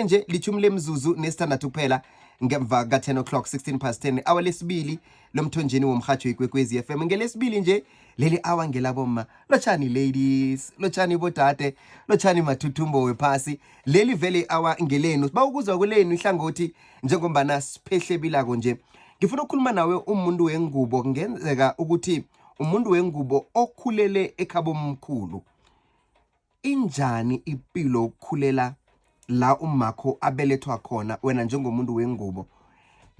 nje lithumi lemzuzu nesithandathu kuphela ngemva ka-10 o'clock 16 past 10 awa lesibili lomthonjeni womrhatsho ikwekwezi FM ngelesibili nje leli awa ngelabomma lotshani ladies lotshani bodade lotshani mathuthumbo wephasi leli vele awa ngelenu siba ukuzwa kwelenu ihlangothi njengombana siphehlebila-ko nje ngifuna ukukhuluma nawe umuntu wengubo kungenzeka ukuthi umuntu wengubo okhulele ekhabomkhulu Injani ipilo ukukhulela la umakho abelethwa khona wena njengomuntu wengubo?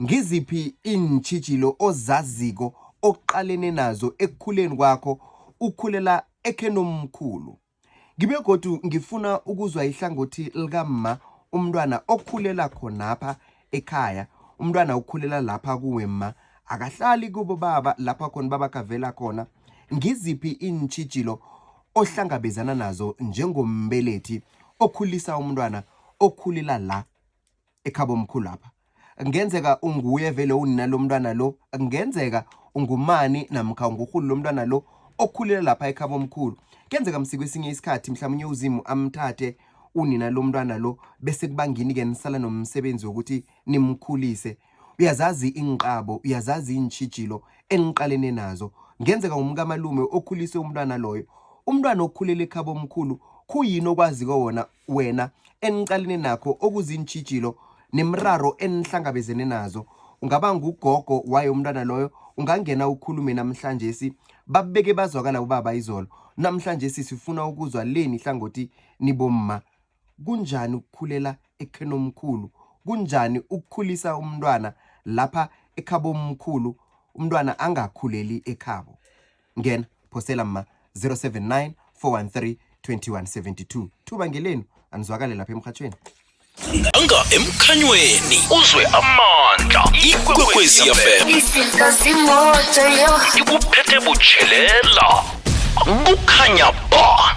Ngiziphi iintjhijilo ozaziko oqalene nazo ekukhuleni kwakho ukhulela ekhenomkhulu? Ngibe godu ngifuna ukuzwa ihlangothi likamma umntwana okhulela khonapha ekhaya umntwana ukhulela lapha kuwe ma akahlali kubo baba lapha khona baba kavela khona ngiziphi iintshijilo ohlangabezana nazo njengombelethi okhulisa umntwana okhulela la ekhabo omkhulu lapha ngenzeka unguye vele unina lomntwana lo ngenzeka ungumani namkha ungurhulu lomntwana lo okhulela lapha ekhabo omkhulu kenzeka msiko esinye isikhathi mhlawumnye uzimu amthathe unina lomntwana lo bese kubangini-ke nisala nomsebenzi wokuthi nimkhulise uyazazi inqabo uyazazi intshijilo eniqalene nazo ngenzeka umkamalume okhulise umntwana loyo umntwana okhulele ekhabo omkhulu khuyini okwaziko wona wena eniqalene nakho okuzintshijilo nemiraro enihlangabezene nazo ungaba ngugogo waye umntwana loyo ungangena ukhulume namhlanje si babeke bazwakala ubaba izolo namhlanje sisifuna ukuzwa leni hlangothi nibomma kunjani ukukhulela ekheni omkhulu kunjani ukukhulisa umntwana lapha ekhabo omkhulu umntwana angakhuleli ekhabo Ngena phosela ma 079 413 2172 thuba ngelenu anizwakale lapha emrhatshweni anga emkhanyweni uzwe amandla ikwekwezi fm izinto zimoto yo ikuphethe butshelela kukhanya ba